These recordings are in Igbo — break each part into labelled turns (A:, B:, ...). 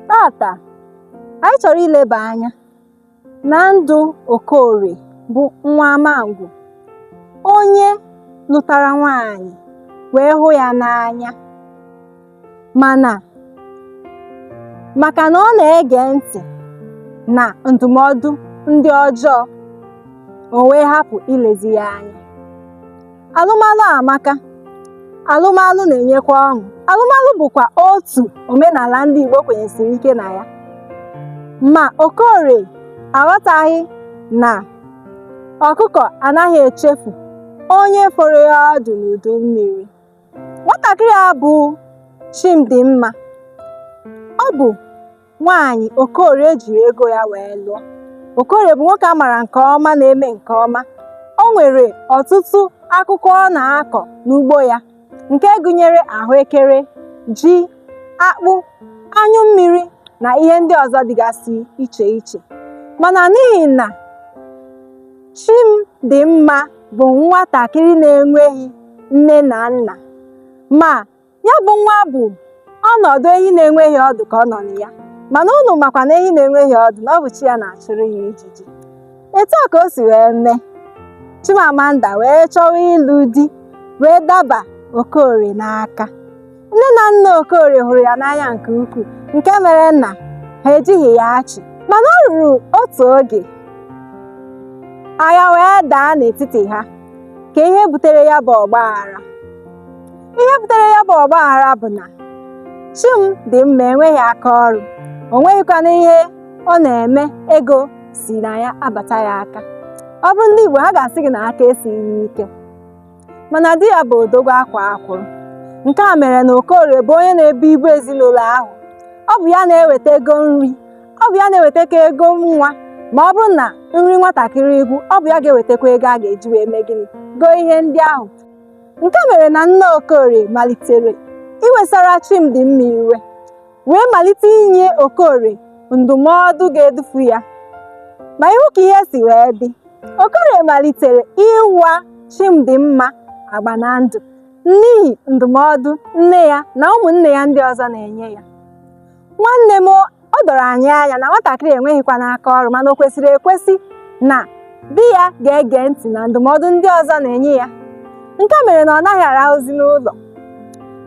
A: tata anyị chọrọ ileba anya na ndụ Okorie bụ nwa Amangwu onye lụtara nwaanyị wee hụ ya n'anya maka na ọ na-ege ntị na ndụmọdụ ndị ọjọọ o wee hapụ ilezi ya anya alụmalụ amaka alụmalụ na-enyekwa ọṅụ alụmalụ bụkwa otu omenala ndị Igbo kwenyesiri ike na ya ma Okorie aghọtaghị na ọkụkọ anaghị echefu onye foro ya ọdụ n'udu mmiri nwatakịrị a bụ Chimdimma ọ bụ nwaanyị Okorie jiri ego ya wee lụọ Okorie bụ nwoke a mara nke ọma na-eme nke ọma o nwere ọtụtụ akụkụ ọ na-akọ n'ugbo ya nke gụnyere ahụekere ji akpụ anyụ mmiri na ihe ndị ọzọ dịgasị iche iche mana n'ihi na Chimdimma bụ nwatakịrị na-enweghị nne na nna ma ya bụ nwa bụ ọnọdụ ehi na-enweghị ọdụ ka ọ nọ na ya mana unu makwa na ehi na-enweghị ọdụ na ọ bụ chi ya na-achụrụ ya ijiji etu a ka o si wee mee Chimamanda wee chọwa ịlụ di wee daba Okorie n'aka nne na nna Okorie hụrụ ya n'anya nke ukwuu nke mere na ha ejighị ya achị mana o ruru otu oge agha wee daa n'etiti ha ka ihe butere ya bụ ọgba aghara ihe butere ya bụ ọgba aghara bụ na Chimdimma enweghị aka ọrụ o nweghịkwanụ ihe ọ na-eme ego si na ya abata ya aka ọ bụrụ ndị Igbo ha ga-asị gị na aka esighị ya ike mana di ya bụ odogwu akwaa akwụrụ nke a mere na Okorie bụ onye na-ebu ibu ezinụlọ ahụ ọ bụ ya na-eweta ego nri ọ bụ ya na-ewetakwa ego nwa ma ọ bụrụ na nri nwatakịrị gwụ ọ bụ ya ga-ewetakwa ego a ga-eji wee mee gịnị goo ihe ndị ahụ nke mere na nne Okorie malitere iwesara Chimdimma iwe wee malite inye Okorie ndụmọdụ ga-edufu ya ma ị hụ ka ihe si wee dị Okorie malitere ịwa Chimdimma agba na ndụ n'ihi ndụmọdụ nne ya na ụmụnne ya ndị ọzọ na-enye ya nwanne m o doro anyị anya na nwatakịrị enweghịkwanụ aka ọrụ mana o kwesịrị ekwesị na di ya ga-ege ntị na ndụmọdụ ndị ọzọ na-enye ya nke mere na ọ naghị arahụzi n'ụlọ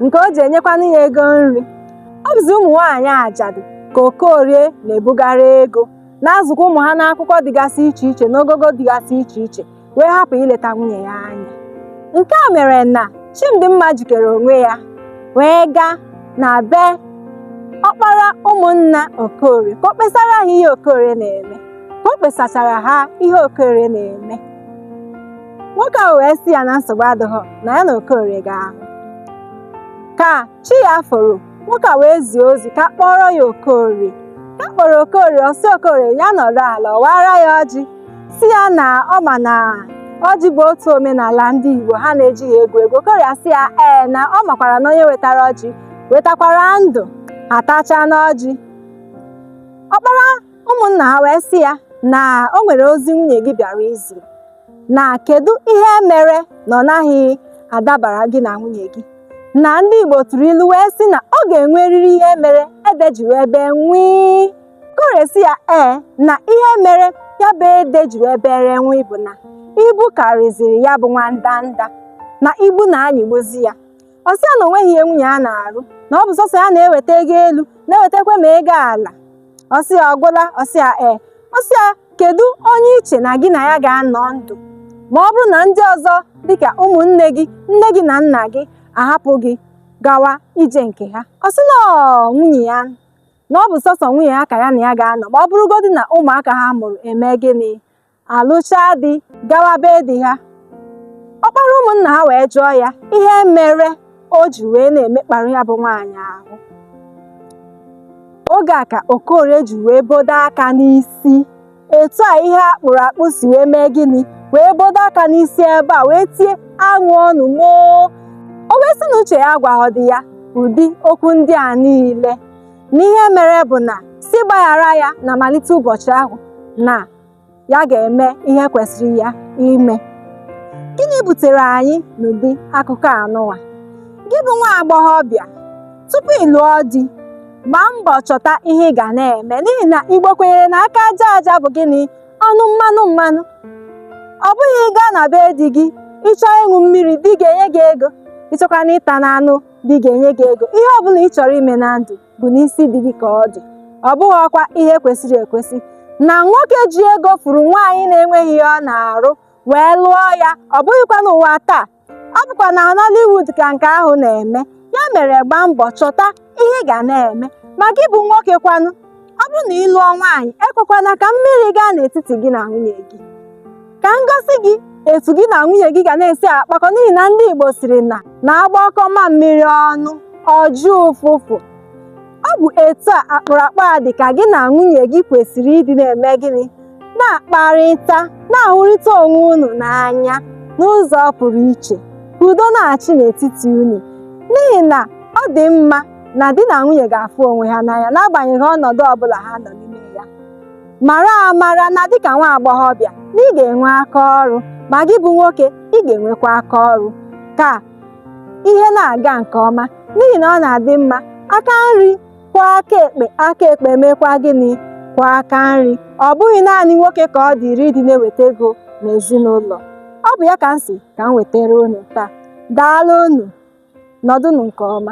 A: nke o ji enyekwanụ ya ego nri ọ bụzi ụmụ nwaanyị ajadu ka Okorie na-ebugara ego na-azụkwa ụmụ ha n'akwụkwọ dịgasị iche iche n'ogogo dịgasị iche iche wee hapụ ileta nwunye ya anya nke a mere na Chimdimma jikere onwe ya wee gaa na be ọkpara ụmụnna Okorie ka o kpesara ha ihe Okorie na-eme ka o kpesachara ha ihe Okorie na-eme nwoke ahụ wee sị ya na nsogbu adịghị na ya na Okorie ga-ahụ ka chi ya foro nwoke a wee zie ozi ka a kpọọrọ ya Okorie ka a kpọrọ Okorie ọ sị Okorie ya nọrọ ala ọ wara ya ọjị sị ya na ọ ma na ọjị bụ otu omenala ndị Igbo ha na-ejighị egwu egwu Okorie asị ya ee na ọ makwara na onye wetara ọjị wetakwara ndụ ha tachana ọjị ọkpara ụmụnna ha wee sị ya na o nwere ozi nwunye gị bịara izi na kedu ihe mere na ọ naghị adabara gị na nwunye gị na ndị Igbo tụrụ ilu wee sị na ọ ga-enwerịrị ihe mere ede ji wee bee nwii Okorie sị ya ee na ihe mere ya bụ ede ji wee bere nwii bụ na ibu karịziri ya bụ nwandanda na ibu na-anyịgbuzi ya ọ sị ya na o nweghị ihe nwunye ya na-arụ na ọ bụ sọsọ ya na-eweta ego elu na-ewetakwa ma ego ala ọ sị ya ọ gwụla ọ sị ya ee ọ sị ya kedu onye i che na gị na ya ga-anọ ndụ ma ọ bụrụ na ndị ọzọ dịka ụmụnne gị nne gị na nna gị ahapụ gị gawa ije nke ha ọ sị na ọ nwunye ya na ọ bụ sọsọ nwunye ya ka ya na ya ga-anọ ma ọ bụrụgodị na ụmụaka ha mụrụ eme gịnị alụchaa di gawa be di ha ọkpara ụmụnna ha wee jụọ ya ihe mere o ji wee na-emekpara ya bụ nwaanyị ahụ oge a ka okorie ji wee bodo aka n'isi etu a ihe a kpụrụ akpụ si wee mee gịnị wee bodo aka n'isi ebe a wee tie anwụọnụ m oo o wee sị na uche ya agwaghọdị ya ụdị okwu ndị a niile na ihe mere bụ na sị gbaghara ya na malite ụbọchị ahụ na ya ga-eme ihe kwesịrị ya ime gịnị butere anyị n'ụdị akụkọ anụwa gị bụ nwa agbọghọbịa tupu ị lụọ di gbaa mbọ chọta ihe ị ga na-eme n'ihi na igbo kwenyere na aka aja aja bụ gịnị ọnụ mmanụ mmanụ ọ bụghị ị gaa na be di gị ị chọọ ịṅụ mmiri di ga-enye gị ego ị chọkwana ịta na anụ di ga-enye gị ego ihe ọ bụla ị chọrọ ime na ndụ bụ n'isi di gị ka ọ dị ọ bụghịkwa ihe kwesịrị ekwesị na nwoke ji ego fụrụ nwaanyị na-enweghị ihe ọ na-arụ wee lụọ ya ọ bụghịkwa n'ụwa taa ọ bụkwa na Nollywood ka nke ahụ na-eme ya mere gbaa mbọ chọta ihe ị ga na-eme ma gị bụ nwoke kwanụ ọ bụrụ na ị lụọ nwaanyị ekwekwana ka mmiri gaa n'etiti gị na nwunye gị ka m gosi gị etu gị na nwunye gị ga na-esi akpakọ n'ihi na ndị Igbo sịrị na a gbakọọ mamịrị ọnụ ọ jụọ ụfụfụ ọ bụ etu a akpụrụakpụ a dị ka gị na nwunye gị kwesịrị ịdị na-eme gịnị na-akparịta na-ahụrịta onwe unu n'anya n'ụzọ pụrụ iche ka udo na-achị n'etiti unu n'ihi na ọ dị mma na di na nwunye ga-afụ onwe ha n'anya n'agbanyeghị ọnọdụ ọbụla ha nọ n'ime mara amara na dịka nwa agbọghọbịa na ị ga-enwe aka ọrụ ma gị bụ nwoke ị ga-enwekwa aka ọrụ ka ihe na-aga nke ọma n'ihi na ọ na-adị mma aka nri kwọọ aka ekpe aka ekpe mekwa gịnị kwọọ aka nri ọ bụghị naanị nwoke ka ọ dịịrị ịdị na-eweta ego n'ezinụlọ ọ bụ ya ka m sị ka m wetara unu taa daalụ unu nọdụnụ nke ọma